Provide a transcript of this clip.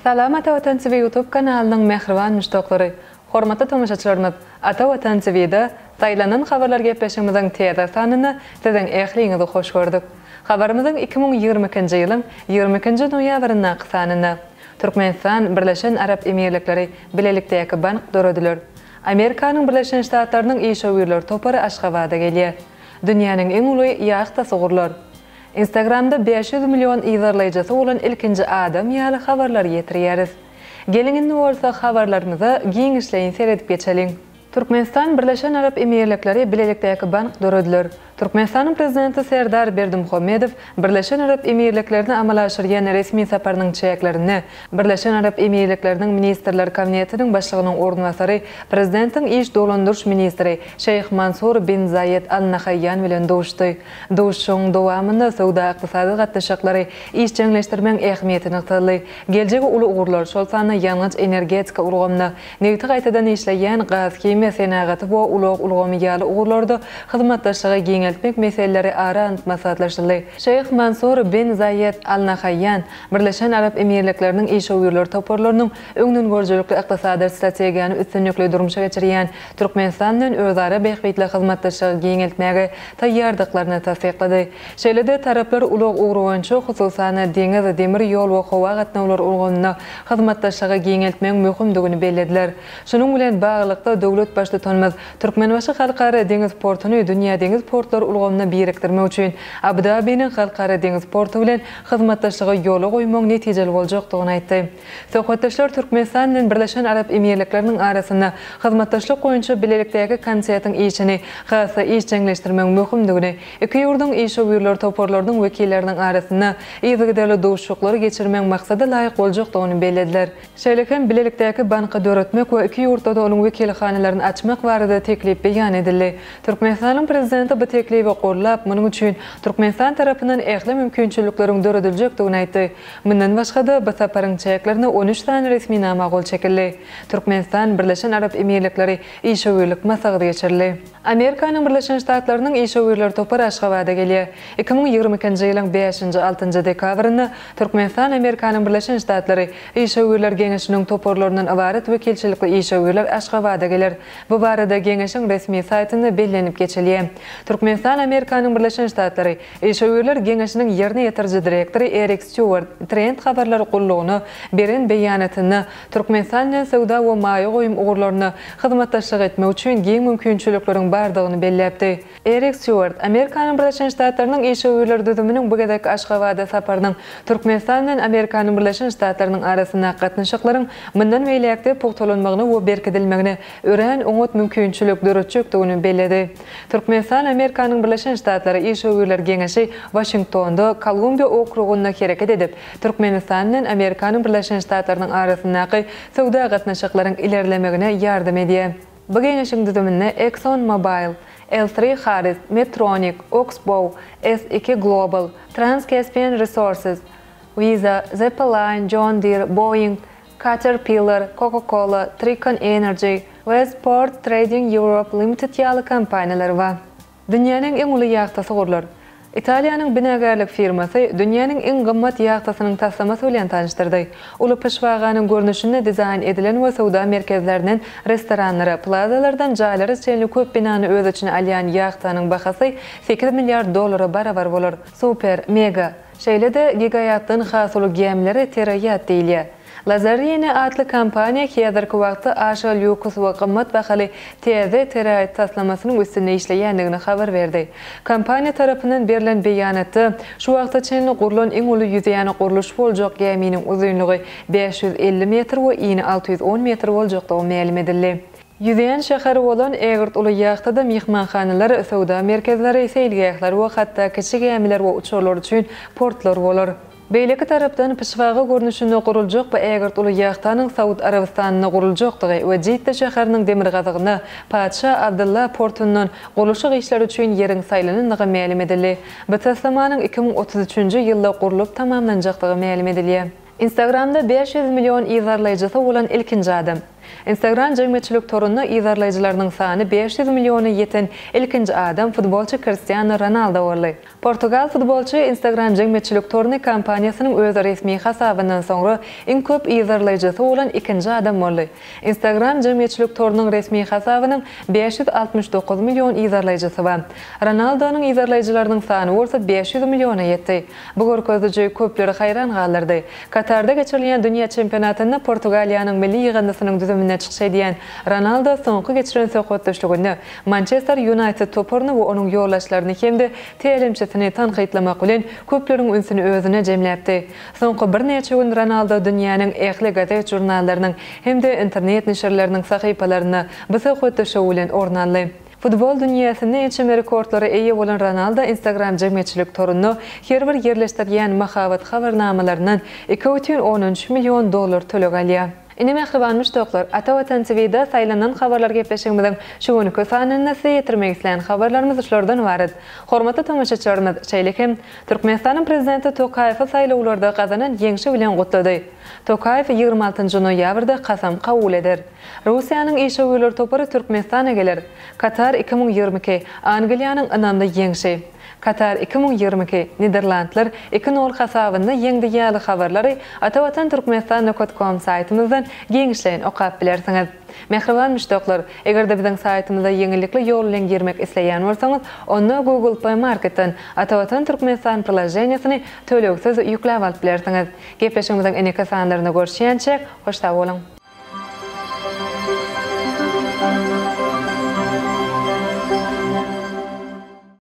Salam Ata Watan TV YouTube kanalynyň mähriban muşdaklary! Hormatly tomaşaçylarymyz! Ata Watan TV-da Saýlanan habarlar gepleşigimiziň täze sanynda siziň ähliňizi hoş gördük. Habarymyzyň iki müň ýigrimi ikinji ýylyň ýigrimi ikinji noýabryndaky sanynda Türkmenistan, Birleşen Arap Emirlikleri bilelikdäki bank dörediler. Amerikanyň Birleşen Ştatlarynyň işewürler topary Aşgabada gelýär. Dünýäniň iň uly ýahtasy gurlar. Instagramda bäş ýüz million yzarlaýjysy bolan ilkinji adam ýaly habarlary ýetirýäris. Geliň indi bolsa habarlarymyza giňişleýin seredip geçeliň. Türkmenistan, Birleşen Arap Emirlikleri bilelikdäki bank dörediler. Türkmenistanyň Prezidenti Serdar Berdimuhamedow Birleşen Arap Emirliklerine amala aşyrýan resmi saparynyň çäklerinde Birleşen Arap Emirlikleriniň Ministrler Kabinetiniň Başlygynyň orunbasary, Prezidentiň iş dolandyryş ministri Şeýh Mansur bin Zaýed Al Nahaýýan bilen duşdy. Duşuşygyň dowamynda söwda-ykdysady gatnaşyklary işjeňleşdirmegiň ähmiýeti nygtaldy. Geljegi uly ugurlar, şol sanda ýangyç-energetika ulgamyna, Nebiti gaýtadan işleýän, gazhimiýa senagaty we ulag ulgamy ýaly ugurlarda hyzmatdaşlygy giňeltmek meseleleri ara alnyp maslahatlaşyldy. Şeýh Mansur bin Zaýed Al Nahaýýan Birleşen Arap Emirlikleriniň işewürler toparlarynyň öňdengörüjilikli ykdysady strategiýany üstünlikli durmuşa geçirýän Türkmenistan bilen özara bähbitli hyzmatdaşlygy giňeltmäge taýýardyklaryny tassyklady. Şeýle-de taraplar ulag ugry boýunça, hususan-da, deňiz, demir ýol we howa gatnawlary ulgamynda hyzmatdaşlygy giňeltmegiň möhümdigini bellediler. Şunuň bilen baglylykda, döwlet Baştutanymyz Türkmenbaşy Halkara deňiz portuny dünýä deňiz portlary ulgamyna birikdirmek üçin Abu-Dabiniň Halkara deňiz porty bilen hyzmatdaşlygy ýola goýmagyň netijeli boljakdygyny aýtdy. Söhbetdeşler Türkmenistan bilen Birleşen Arap Emirlikleriniň arasynda hyzmatdaşlyk boýunça bilelikdäki konsetiň işini has-da işjeňleşdirmegiň möhümdigini Iki ýurduň işewürler toparlarynyň wekilleriniň arasynda yzygiderli duşuşyklary geçirmegiň maksada laýyk boljakdygyny bellediler. Şeýle hem bilelikdäki banky döretmek we iki ýurtda-da onuň wekilhanalaryny açmak barada teklip beýan edildi. Türkmenistanyň Prezidenti bu teklibi gollap, munuň üçin Türkmenistan tarapyndan ähli mümkinçilikleriň dörediljekdigini aýtdy. Mundan başga-da, bu saparyň çäklerinde on üç sany resminama gol çekildi. Türkmenistan, Birleşen Arap Emirlikleri işewürlik maslahaty geçirildi. Amerikanyň Birleşen Ştatlarynyň işewürler topary Aşgabada gelýär. Iki müň ýigrimi ikinji ýylyň bäşinji, altynjy dekabrynda Türkmenistan Amerikanyň Birleşen Ştatlary Işewürler geňeşiniň toparlaryndan ybarat wekilçilikli işewürler Aşgabada geler. Bu barada geňeşiň resmi saýtynda bellenip geçilýär. Türkmenistan Amerikanyň Birleşen Ştatlary Işewürler geňeşiniň ýerine ýetiriji direktory Erik Stýuwart Trend habarlar gullugyna beren beýanatynda Türkmenistan bilen söwda we maýa goýum ugurlarynda hyzmatdaşlyk etmek üçin giň mümkinçilikleriň bardygyny belläpdi. Erik Stýuart, Amerikanyň Birleşen Ştatlarynyň işewürler düzüminiň bu gezekki Aşgabada saparynyň Türkmenistan bilen Amerikanyň Birleşen Ştatlarynyň arasyndaky gatnaşyklaryň mundan beýläk-de pugtalanmagyna we berkidilmegine örän oňat mümkinçilik döretjekdigini belledi. Türkmenistan, Amerikanyň Birleşen Ştatlary işewürler geňeşi Waşingtonda, Kolumbiýa okrugynda hereket edip, Türkmenistan bilen Amerikanyň Birleşen Ştatlarynyň arasyndaky söwda gatnaşyklaryň ilerlemegine ýardam edýär. Bu geňeşiň düzüminde Exxon Mobil, L three Harris, Medtronic, Oxbow, S iki Global, Trans-Caspian Resources, Visa, Zeppeline, John Deere, Boeing, Caterpillar, Coca-Cola, Tricon Energy, Westport Trading Europe Limited ýaly kompaniýalar bar. Dünýäniň iň uly ýagtasy gurlar. Italiýanyň binagärlik firmasy dünýäniň iň gymmat ýagtasynyň taslamasy bilen tanyşdyrdy. Uly pyşbaganyň görnüşinde dizaýn edilen we söwda merkezlerinden restoranlara, plazalardan jaýlara çenli köp binany öz içine alýan ýagtanyň bahasy sekiz milliard dollara barabar bolar. Super, mega, şeýle-de gigaýatdan has uly gämilere teraýat diýilýär. Lazarine atly kompaniýa häzirki wagtda aşa lýuks we gymmat bahaly täze teraýt taslamasynyň üstünde işleýändigini habar berdi. Kompaniýa tarapyndan berlen beýanatda, şu wagta çenli gurlan iň uly ýüzýän gurluş boljak gäminiň uzynlygy bäş ýüz elli metr we ini alty ýüz on metr boljakdygy mälim edildi. Ýüzýän şäheri bolan ägirt uly ýahtada myhmanhanalar, söwda merkezleri, seýilgähler we hatda kiçi gämiler we uçarlar üçin portlar bolar. Beýleki tarapdan, pyşbaga görnüşinde guruljak bu ägirt uly ýahtanyň Saud Arabystanynda guruljakdygy we Jidda şäheriniň demirgazygyna Patyşa Abdylla portundan gurluşyk işleri üçin ýeriň saýlanandygy mälim edildi. Bu taslamanyň iki müň otuz üçünji ýylda gurlup tamamlanjakdygy mälim edilýär. Instagramda bäş ýüz million yzarlaýjysy bolan ilkinji adam. Instagram jemgyýetçilik torunda yzarlaýjylarynyň sany bäş ýüz milliona ýeten ilkinji adam futbolçy Kristiano Ronaldo boldy. Portugal futbolçy Instagram jemgyýetçilik toruny kompaniýasynyň öz resmi hasabyndan soňra iň köp yzarlaýjysy bolan ikinji adam boldy. Instagram jemgyýetçilik torunyň resmi hasabynyň bäş ýüz altmyş dokuz million yzarlaýjysy bar. Ronaldonyň yzarlaýjylarynyň sany bolsa bäş ýüz milliona ýetdi. Bu görkeziji köpleri haýran galdyrdy. Katarda geçirilýän dünýä çempionatynda Portugaliýanyň milli ýygyndysynyň düzüminde çykyş edýän Ronaldo soňky geçiren söhbetdeşliginde Mançester Ýunaýted toparyny we onuň ýoldaşlaryny hem-de tälimçisini tankytlamak bilen köpleriň ünsüni özüne jemläpdi. Soňky birnäçe gün Ronaldo dünýäniň ähli gazet-žurnallarynyň hem-de internet neşirleriniň sahypalarynda bu söhbetde şou bilen orun aldy. Futbol dünýäsinde ençeme rekordlara eýe bolan Ronaldo Instagram jemgyýetçilik toruna her bir ýerleşdirýän mahabat habarnamalaryndan iki bütin on üç million dollar töleg alýar. Ine mähriban muşdaklar, Ata Watan TVda saýlanan habarlar gepleşigimiziň şu günki sanynda size ýetirmek isleýän habarlarymyz şulardan ybarat. Hormatly tomaşaçylarymyz, şeýle hem Türkmenistanyň Prezidenti Tokaýewi saýlawlarda gazanan ýeňşi bilen gutlady. Tokaýew ýigrimi altynjy noýabrda kasam kabul eder. Russiýanyň işewürler topary Türkmenistana geler. Katar iki müň ýigrimi iki, Angliýanyň ynamly ýeňşi. Katar iki müň ýigrimi iki, Niderlandlar iki nol hasabynda ýeňdi ýaly habarlary Atavatan Türkmenistan Nokat Kom saýtymyzdan giňişleýin okap bilersiňiz. Mähriban müşdaklar, eger-de biziň saýtymyza ýeňillikli ýol bilen girmek isleýän bolsaňyz, onda Google Play Marketden Atavatan Türkmenistan priloženiýesini tölegsiz ýükläp alyp bilersiňiz. Gepleşigimiziň ineki sanlarynda görüşýänçäk, hoş sag boluň!